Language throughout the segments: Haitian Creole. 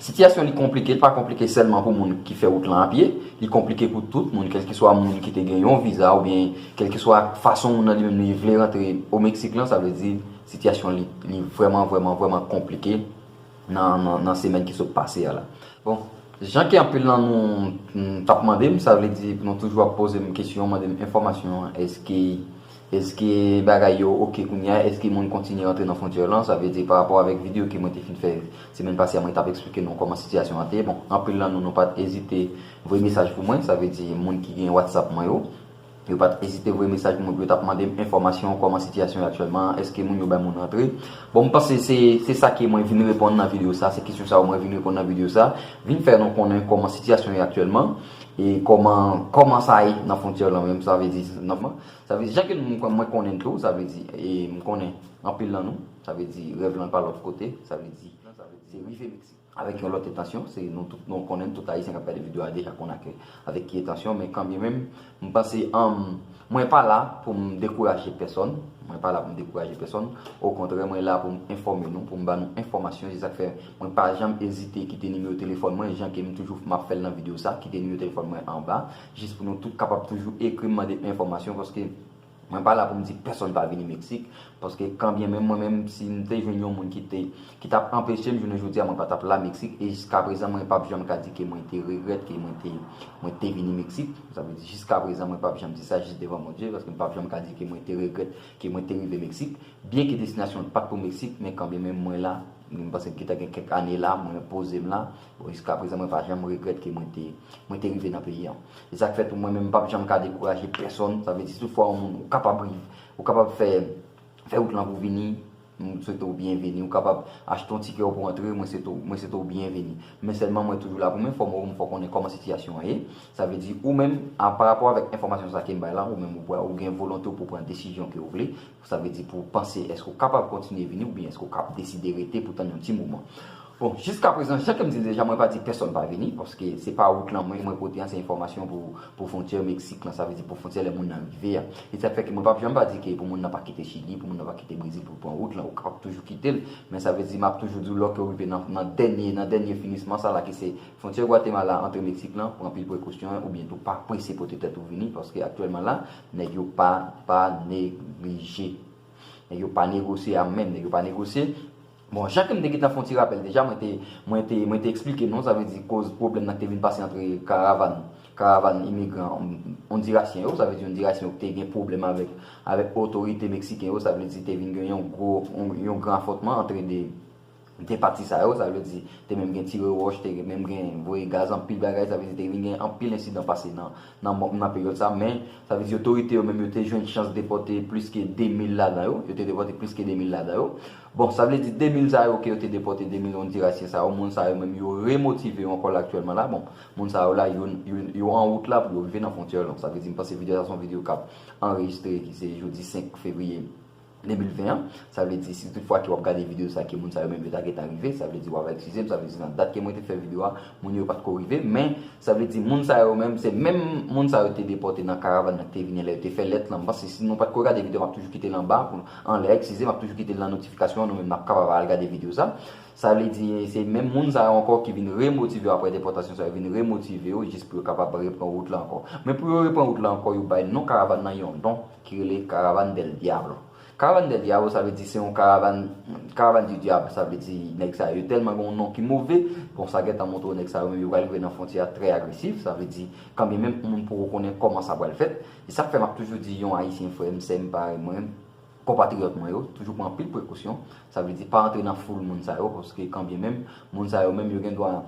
Sitiyasyon li konplike, li pa konplike sèlman pou moun ki fè wout lan a pye, li konplike pou tout moun, kèlkeswa moun ki te gen yon viza oubyen kèlkeswa fason moun nan li menm li vle rantre o Meksik lan, sa vle di sitiyasyon li, li vrèman, vrèman, vrèman konplike nan, nan semèn ki sot pase a la. Bon, jan ke anpil nan nou t ap mande m, sa vle di nou toujou ap poze m kesyon, mande m enfòmasyon, èske. Eske bagay yo ok kounya a? Eske moun kontinye antre nan frontyè lan? Sa vle di pa rapò avèk video ke mwen te fin fè semèn pase a mwen tap eksplike nou kòman sitiyasyon an te. Bon, anpil lan nou nou pat ezite voye mesaj pou mwen, sa vle di moun ki gen WhatsApp mwen yo. Yo pat ezite voye mesaj pou mwen pou yo tap mande m enfòmasyon kòman sitiyasyon yo aktyèlman an, eske moun yo bay moun rantre. Bon m panse se se sa ke mwen vin reponn nan video sa, se kesyon sa yo mwen vin reponn nan video sa. Vin fè nou konnen kòman sitiyasyon yo aktyèlman e kòman kòman sa ye nan frontyè lan menm sa vle di nan. Sa vle di, jan ke mwen konnen n tou, sa vle di, e m konnen anpil nan nou, sa vle di, rèv lan pa lòt kote, sa vle di, se rive Meksik. Avèk yon lòt entansyon, se nou tout nou konnen n, tout Ayisyen k ap gade videyo a deja konnen ak, avèk ki etansyon, men kanbyen menm, m panse, mwen pa la pou m dekouraje pèsòn, mwen pa la pou m dekouraje pèsòn, okontrè mwen la pou m enfòme nou, pou m ba nou enfòmasyon, se sa k fè mwen pa janm ezite kite nimewo telefòn mwen, jan ke m toujou, m ap fè l nan videyo sa, kite nimewo telefòn mwen anba. Jis pou nou tout kapab toujou ekri m mande enfòmasyon paske mwen pa la pou m di pèsonn pa vini Meksik paske kan byen menm mwen menm si m te jwenn yon moun ki te ki t ap anpeche m jounen jodi a mwen pa t ap la Meksik e jiskaprezan mwen pap janm ka di ke mwen te regrèt ke mwen te mwen te vini Meksik sa vle di jiskaprezan mwen pap janm di sa jis devan Bondye paske m pap janm ka di ke mwen te regrèt ke mwen te rive Meksik byen ke destinasyon an pat pou Meksik men kan byen menm mwen la m pase m gentan gen kèk ane la mwen poze m la. Bon jiska prezan mwen pa janm regrèt ke mwen te mwen te rive nan peyi an. Se sak fè tou mwen menm m pap janm ka dekouraje pèsòn, sa vle di si toutfwa yon moun ou kapab riv ou kapab fè fè wout lan pou vini m swete w byenveni, ou kapab achte yon tikè w pou antre mwen swete w mwen swete w byenveni. Men sèlman mwen toujou la pou m enfòme w, m fè w konnen kòman sitiyasyon an ye. Sa vle di ou menm a parapò avèk enfòmasyon sa ke m bay lan ou menm ou pral ou gen volonte w pou w pran desizyon ke w vle Sa vle di pou panse èske ou kapab kontinye vini oubyen èske ou kab deside rete pou tann yon ti moman. Bon, jiskaprezan, jan ke m di l deja, mwen pa di pèsòn pa vini, paske se pa wout lan mwen mwen pote an, se enfòmasyon pou pou fwontyè Meksik lan, sa vle di pou fwontyè lè moun nan rive a. E sa k fè ke mwen pap janm pa di ke pou moun nan pa kite Chili, pou moun nan pa kite Brezil pou l pran wout lan, ou kapab toujou kite l, men sa vle di m ap toujou di w lò ke ou rive nan nan dènye nan dènye finisman sa la ki se fwontyè Gwatemala antre Meksik lan, pran pil prekosyon oubyen tou pa prese pote tèt ou vini paske aktyèlman la, Nèg yo pa pa neglije. Nèg yo pa negosye a menm. Nèg yo pa negosye. Bon, jan ke m te gentan fè yon ti rapèl deja, mwen te, mwen te, mwen te eksplike nou, sa vle di koz pwoblèm nan ki te vin pase antre karavan, karavan imigran ondirasyen yo, sa vle di ondirasyen yo ki te gen pwoblèm avèk, avèk otorite meksiken yo, sa vle di te vin gen yon gwo, yon gran afwontman antre 2. Gen pati sa yo, sa vle di, te menm gen tire wòch, te menm gen voye gaz, anpil bagay, sa vle di te vin gen anpil ensidan pase nan peryòd sa, men, sa vle di otorite yo menm yo te jwenn chans depòte plis ke 2 mil ladan yo, yo te depòte plis ke 2 mil ladan yo. Bon, sa vle di 2 mil sa yo ke yo te depòte, 2 mil Ondirasyen sa yo, moun sa yo menm yo remotive yo ankò la aktyèlman la, bon, moun sa yo la, yo an wout la pou yo rive nan fwontyè yo, donk sa vle di m panse videyo sa se yon videyo k ap anrejistre ki se jodi 5 fevriye. 2020 an, sa vle di si tout fwa ke wap gade video sa ke moun sa yo menm yo ta gentan rive, sa vle di wava eksizem, sa vle di nan dat ke mwen te fè video a, moun yo pat ko rive, men sa vle di moun sa yo menm se menm moun sa yo te depòte nan karavan nan ki te vini lè yo te fè lèt lan, paske si nou pat ko gade video map toujou kite l anba, anlè, eksizem, map toujou kite l nan notifikasyon an, nou menm nap kapab al gade video sa, sa vle di se menm moun sa yo ankò ki vin remotive yo aprè depòtasyon sa yo vin remotive yo jis pou yo kapab repran wout la ankò. Men pou yo repran wout la ankò yo bay non karavan nan yon don. ki rele Caravane del Diablo. Caravane del Diablo sa vle di se yon karavan, Caravane du Diable sa vle di nèg sa yo tèlman gen yon non ki move, bon sa gentan montre w nèg sa yo menm yo pral rive nan fwontyè a trè agresif, sa vle di kanbyen menm moun poko konnen kòman sa pral fèt. E sa k fè m ap toujou di yon Ayisyen frè m, sè m, parèy mwen, konpatriyòt mwen yo, toujou pran anpil prekosyon, sa vle di pa antre nan foul moun sa yo paske kanbyen menm moun sa yo menm yo gen dwa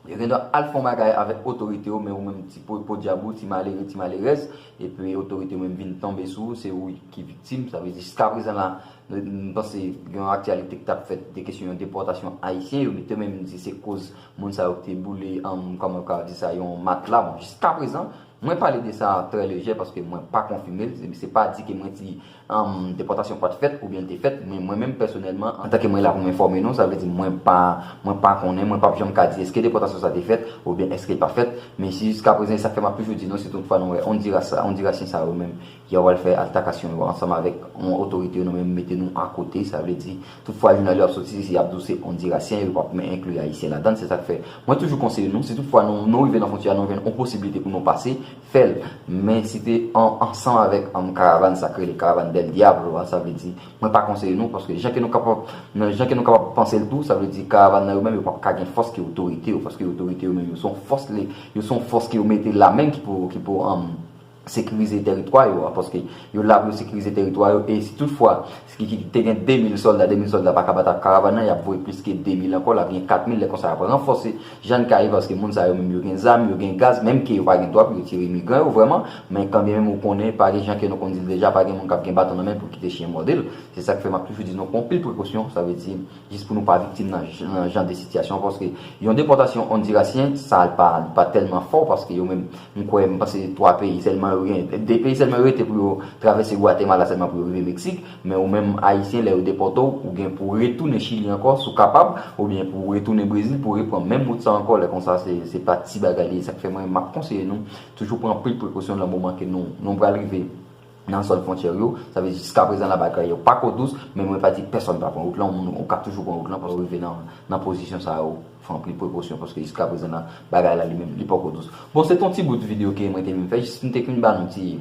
Yo gendwa al fon bagay avèk otorite yo men ou menm ti podyab ou, ti malere, ti malerèz, epi otorite yo menm vin tonbe sou ou, se ou ki viktim. Sa vle di jiskaprezan la, m panse gen yon aktyalite ki t ap fèt de kesyon yon depòtasyon ayisyen, yo mete menm di se koz moun sa yo te boule, kòman m ka di sa, yon matla. Bon, jiskaprezan, mwen pale de sa trè lejè paske mwen pa konfime l, se pa di ke mwen di Depòtasyon pat fèt oubyen l te fèt, men mwen menm pèsonèlman, antanke mwen la pou m enfòme nou, sa vle di mwen pa, mwen pa konnen, mwen pap janm ka di èske depòtasyon sa te fèt oubyen èske l pa fèt, men si jiskaprezan, e sa k fè m ap toujou di nou si tout fwa nou wè Ondiras sa, Ondirasyen sa yo menm, ya w al fè altakasyon yo ansanm avèk yon otorite yo nou menm mete nou akote, sa vle di tout fwa jounal yo ap soti si y ap di w se Ondirasyen yo pap men enkli Ayisyen ladan l, se sa k fè mwen toujou konseye nou si tout fwa nou rive nan fwontyè a nou jwenn yon posiblite pou nou pase, fèl men si te ansanm avèk karavan sa k rele karavan del diablo a sa vle di mwen pa konseye nou paske jan ke nou kapab nan jan ke nou kapab panse l tou sa vle di karavan nan yo menm yo pap ka gen fòs ke otorite yo paske otorite yo menm yo son fòs le yo son fòs ke yo mete la menm ki pou ki pou sekirize teritwa yo a paske yo la pou yo sekirize teritwa yo e si tout fwa Ki te gen 2 mil sòlda, 2 mil sòlda pa ka bat ak karavan nan, y ap voye plis ke 2 mil ankò, l ap gen 4 mil, lè konsa y ap ranfòse jan ka ye paske moun sa yo menm yo gen zam, yo gen gaz, menm ke yo pa gen dwa pou yo tire imigran yo vrèman, men kan byen menm ou konnen, pa gen jan ke nou konn di l deja, pa gen moun k ap gen baton nan men l pou l kite chyen mòde l, se sa k fè m ap toujou di nou pran anpil prekosyon, sa vle di. Jis pou nou pa viktim nan jan de sitiyasyon paske yon depòtasyon Ondirasyen sa li pa tèlman fò paske yo menm m kwè m panse 3 peyi sèlman yo gen 2 peyi sèlman yo rete pou yo travèse Gwatemala sèlman pou yo rive Meksik men ou menm Ayisyen lè yo depòte w ou gen pou w retounen Chili ankò si w kapab oubyen pou w retounen Brezil pou w repran menm wout sa ankò lè konsa se pa ti bagay li ye sa k fè mwen m ap konseye nou toujou pran anpil prekosyon nan moman ke nou pral rive. nan zòn fwontyè yo, sa vle di jiskaprezan labagay yo pa ko dous, men mwen pa di pèsòn pa pran wout lan, moun ou ka toujou pran wout lan paske rive nan pozisyon sa yo, fè anpil prekosyon paske jiskaprezan nan bagay la li menm li poko dous. Bon se te yon ti bout videyo ke mwen te vin fè jis m te k vin ba nou ti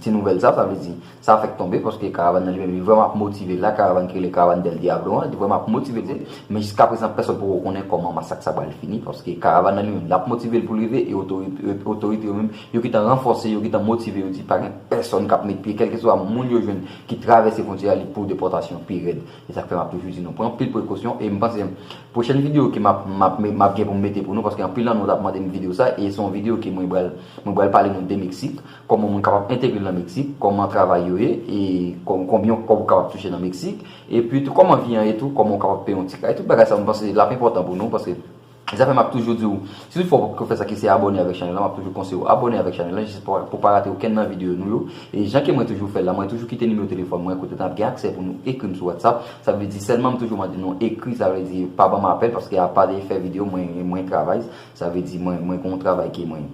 ti nouvèl sa, sa vle di sa fèk tonbe paske karavan nan li menm li vrèman ap motive la, karavan ki rele karavan Del Diablo an li vrèman ap motive l, men jiskaprezan pèsòn poko konnen kòman masak sa pral fini paske karavan nan li menm l ap motive l pou l rive e otorite yo menm Yo gentan ranfòse yo, gentan motive yo di pa gen pèsòn k ap met pye, kèlkeswa moun yo jwenn ki travèse fwontyè a li pou depòtasyon pi rèd. E sa k fè m ap toujou di nou pran anpil prekosyon e m panse pwochèn videyo ke m ap m ap m ap gen pou m mete pou nou paske anpil nan nou t ap mande m videyo sa e se yon videyo ke mwen pral mwen pral pale nou de Meksik, kòman moun kapab entegre l nan Meksik, kòman travay yo ye e konbyen yon kòb ou kapab touche nan Meksik epi tou kòman vi an ye tou, kòman ou kapab peye yon ti kay, tout bagay sa yo m panse l ap enpòtan pou nou paske. Zafè map toujou diw, si tout fwa ou pap ko fè sa ki se abòne avèk chanèl lan map toujou konseyew ou abòne avèk chanèl lan jis pou pa rate okenn nan videyo nou yo e jan ke mwen toujou fèl la mwen toujou kite nimewo telefòn mwen kote nap gen aksè pou nou ekrim sou WhatsApp sa vle di sèlman m toujou mande nou ekri sa vle di pa banm apèl paske apa de fè videyo mwen mwen travay sa vle di mwen mwen gon travay ke mwen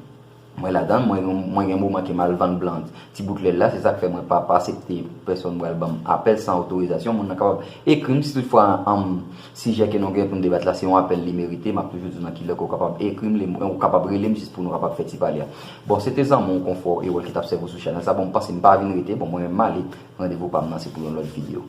Mwen ladan, mwen gen moman ke m al vann blanc ti bout lèl la, se sa k fè mwen pa asepte pèsòn pral ban m apèl san otorizasyon. Moun nan kapab ekri m si tout fwa sijè ke nou gen pou n debat la se yon apèl li merite, m ap toujou di w nan ki lè ke w kapab ekri m, ou kapab rele m jis pou nou kapab fè ti pale a. Bon, se te zanmi w Konfò Erol ki t ap sèvi w sou chanèl sa, bon m panse m pa vin rete, bon mwen menm m ale, randevou pa m nan se pou yon lòt videyo.